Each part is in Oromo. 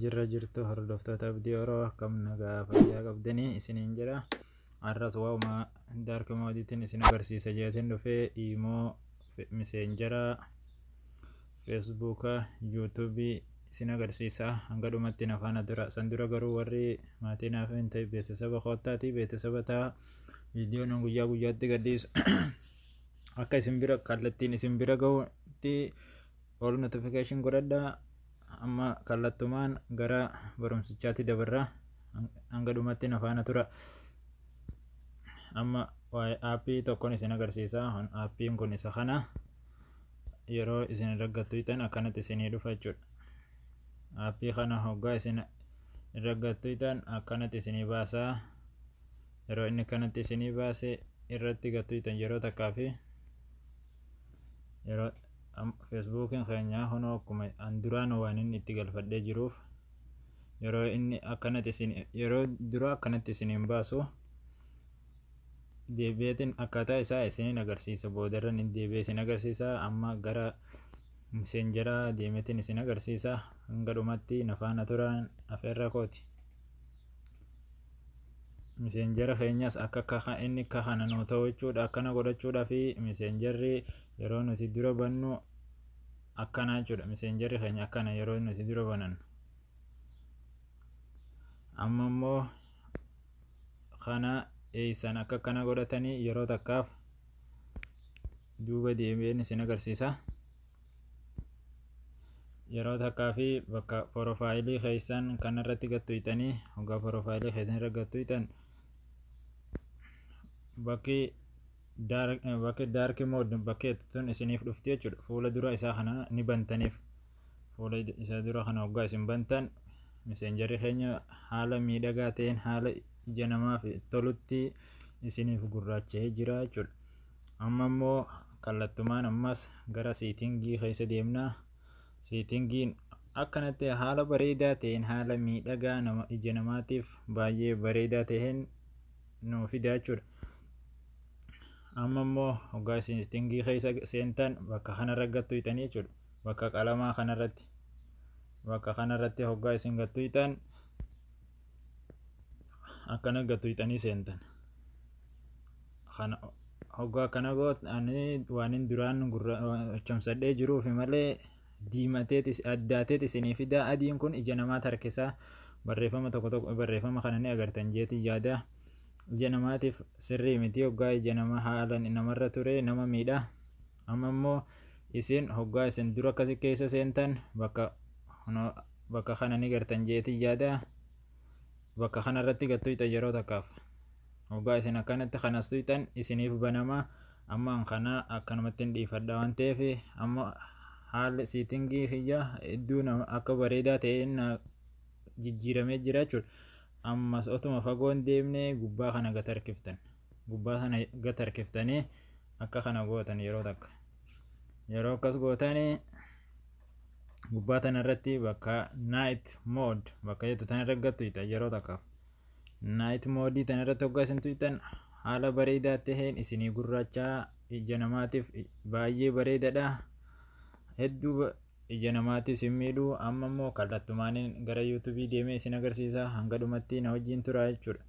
jirra jirtu hordoftoota abdii oroo akkam nagaa fayyaa qabdanii isiniin jedha Har'as waa'uma dark moodiitiin isin agarsiisa jeetiin dhufee imoo miseenjera feesbuuka yuutuubii isin agarsiisa hanga dhumatti na faana dura san dura garuu warri maatii naaf hin ta'e beeksisaba koottaatii beeksisaba ta'a viidiyoon guyyaa guyyaatti gadhiisu akka isin bira kallattiin isin bira ga'utti all notification godhadha amma kallattumaan gara barumsichaatti dabarra hanga dhumatti na faana tura amma waa'ee aappii tokkon isin agarsiisa aappiin kun isa kana yeroo isin raggattu itan akkanatti isinii dhufa jechuudha aappii kana hoggaa isin raggattu itan akkanatti isinii baasaa yeroo inni kanatti isinii baase irratti gattu itan yeroo takkaa fi yeroo feesbuukiin keenyaa kunoo akkuma an duraan waanin itti galfadhee jiruuf yeroo inni akkanatti isin yeroo dura akkanatti isiniin baasu deebi'eetiin akkaataa isaa isiniin agarsiisa boodarra ni deebi'ee isin agarsiisa amma gara miseenjaraa deemeetiin isin agarsiisa hanga dhumatti nafaana turaan afeerra kooti. miseenjara keenyas akka akka inni akka kana nuu ta'u jechuudha akkana godhachuudhaa fi miseenjarri yeroo nuti dura bannu akkana jechuudha miseenjarri keenya akkana yeroo nuti dura banan amma immoo kana eeysan akka akkana godhatanii yeroo takkaaf duuba deebi'een isin agarsiisa yeroo takkaa fi bakka porofaayilii keessan kanarratti gattuuytanii hoggaa porofaayilii keessan irra gattuuytan bakki bakka daarki mood bakkee tun isiniif dhufti jechuudha fuula dura isaa kana ni bantaniif fuula isaa dura kana hoggaa isin bantan miseenjarri keenya haala miidhagaa ta'een haala ija namaaf tolutti isiniif gurraacha'ee jira jechuudha amma immoo kallattumaan ammas gara siitingii keessa deemna siitingiin akkanatti haala bareedaa ta'een haala miidhagaa nama ija namaatiif baay'ee bareedaa ta'een nuu fida jechuudha. Amma immoo hoggaa seetingii keessa seentan bakka kanarra gattu hiitanii jechuudha. Bakka qalamaa kanarratti bakka kanarratti hoggaa isin gattu hiitan akkana gattu hiitanii seentan. Kana hoggaa akkana gootanii waan duraan gurra chomsadhee jiruufi malee diimatee xis addaatee xisinii fidaa adiin kun ija namaa tarkisaa barreeffama tokko tokko barreeffama kana ni agartan jeetii yaada ija namaatiif sirrii miti hoggaa ija nama haalan namarra ture nama miidha amma immoo isin hoggaa isin dura akkasi keessa seentan bakka bakka kana ni gartan jeetii yaada bakka kana irratti gad tuyxan yeroo takkaaf hoggaa isin akkanatti kanas tuyxan isiniif banama amma an kana akkanumatti hin dhiifadha waan ta'eef amma haalli siitingii kiyya hedduu nama akka bareedaa ta'e na jijjiiramee jira jechuudha ammas otuma fagoon deemne gubbaa kana gad harkiftan gubbaa kana gad harkiftanii akka kana gootan yeroo takka. yeroo akkas gootan gubbaa tana irratti bakka night mode bakka jettu tana irra gattu ita yeroo takkaaf night mode tana irratti hoggaa isin tuyxan haala bareedaa taheen isinii gurraachaa ija namaatiif baay'ee bareedadha hedduu ija namaatti isin miidhu amma immoo kallattumaaniin gara yuutuubii deemee isin agarsiisa hanga dhumatti na wajjin tura jechuudha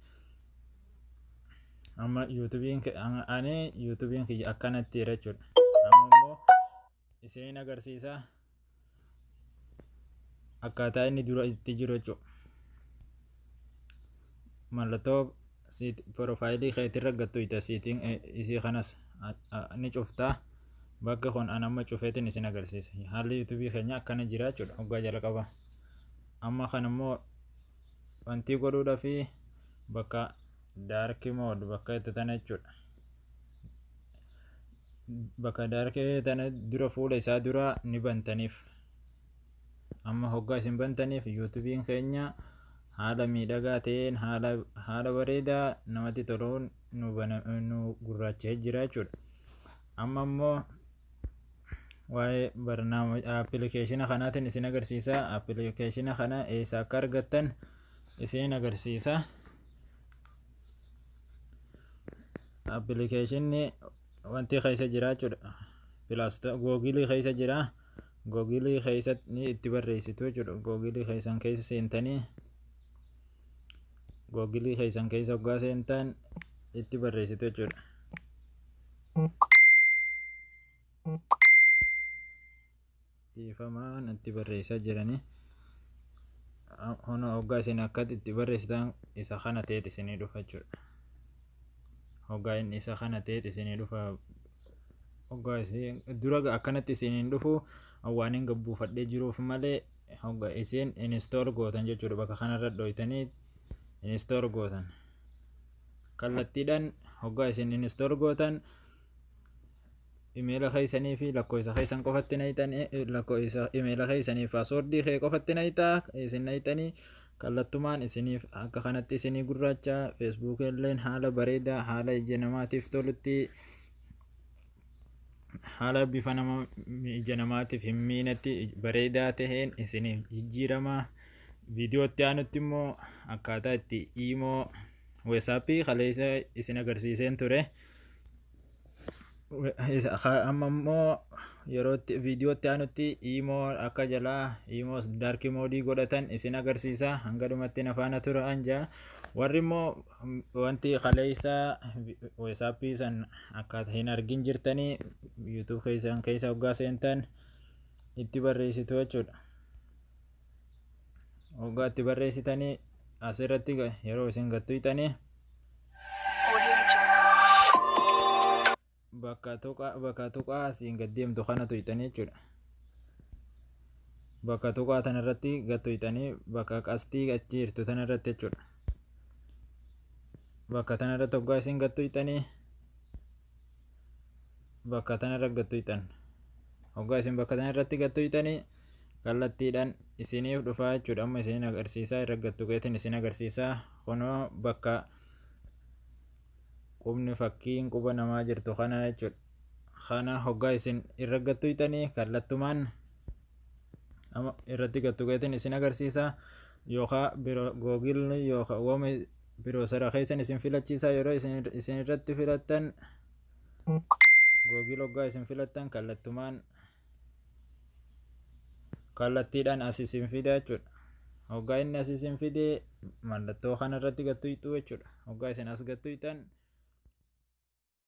amma yuutubiin ani yuutubiin kiyya akkanatti jira jechuudha amma immoo isiniin agarsiisa akkaataa inni dura itti jiru jechuudha mallattoo piroofaayilii keetirra gattuuyta siitiin isii kanas ni cuftaa bakka kun an amma cufeetiin isin agarsiisa haalli yuutubii keenya akkana jira jechuudha hoggaa jalqaba amma kan immoo wantii godhuudhafi bakka dark mode bakka itti tana jechuudha bakka dark tana dura fuula isaa dura ni bantaniif amma hoggaa isin bantaniif yuutubiin keenya haala miidhagaa ta'een haala haala bareedaa namatti toluun nu bana nu gurraacha'ee jira jechuudha amma immoo waa'ee barnaama appilikeeshina kanaatiin isin agarsiisa appilikeeshina kana eessa akka argattan isin agarsiisa appilikeeshinni wanti keessa jira jechuudha pilaasta googilii keessa jira googilii keessa ni itti barreessitu jechuudha googilii keessan keessa seentanii googilii keessan keessa hoggaa seentan itti barreessitu jechuudha dhiifamaa natti barreessaa jiranii hona hoggaa isin akka itti barreessitan isa kana ta'eet isinii dhufa jechuudha hoggaa inni isa kana ta'eet isinii dhufa hoggaa isin dura akkanatti isiniin dhufu waan hin gabbuufadhee jiruuf malee hogga isin inistool gootan jechuudha bakka kanarra dhooytanii inistool gootan. kallattiidhaan hoggaa isin install gootan imeela keessanii fi lakkoofsa keessan qofatti nayxan lakkoofsa imeela keessanii fi paaswordii kee qofatti nayxa isin nayxanii kallattumaan isiniif akka kanatti isinii gurraacha feesbuukii illeen haala bareedaa haala ija namaatiif tolutti haala bifa nama ija namaatiif hin miinetti bareedaa taheen isiniif jijjiirama viidiyootti aanutti immoo akkaataa itti iimoo weesaappii kaleessa isin agarsiiseen ture amma immoo yerootti viidiyootti aanutti iimoo akka jalaa iimoo daarkii moodii godhatan isin agarsiisa hanga dhumatti nafaana turaan jaa warri immoo wanti kaleessa weesaappii san akka hin argin jirtanii yuutuub keessan keessa hoggaa seentan itti barreessitu jechuudha. Hoggaa itti barreessitanii asirratti yeroo isin gattuytanii. bakka tuqaa bakka tuqaa asiin gad deemtu kana tuyxanii jechuudha. Bakka tuqaa tana irratti gad tuyxanii bakka qastii achi jirtu tana irratti jechuudha. Bakka tana irratti hoggaa isin gad tuyxanii bakka tana irra gad tuyxan. Hoggaa isin bakka tana irratti gad tuyxanii kallattiidhaan isiniif dhufaa jechuudha. Amma isiniin agarsiisaa irra gad tuqeetiin isin agarsiisaa kunoo bakka qubni fakkiin quba namaa jirtu kana jechuudha. Kana hoggaa isin irra gattu hiitanii kallattumaan amma irratti gattu gatiin isin agarsiisa yookaan biro googilni yookaan wama biroo sara keessan isin filachiisa yeroo isin irratti filattan googil hoggaa isin filattan kallattumaan kallattiidhaan as isin fida jechuudha. Hoggaa inni as isin fide mallattoo kanarratti gattuyxuu jechuudha. Hoggaa isin as gattuyxan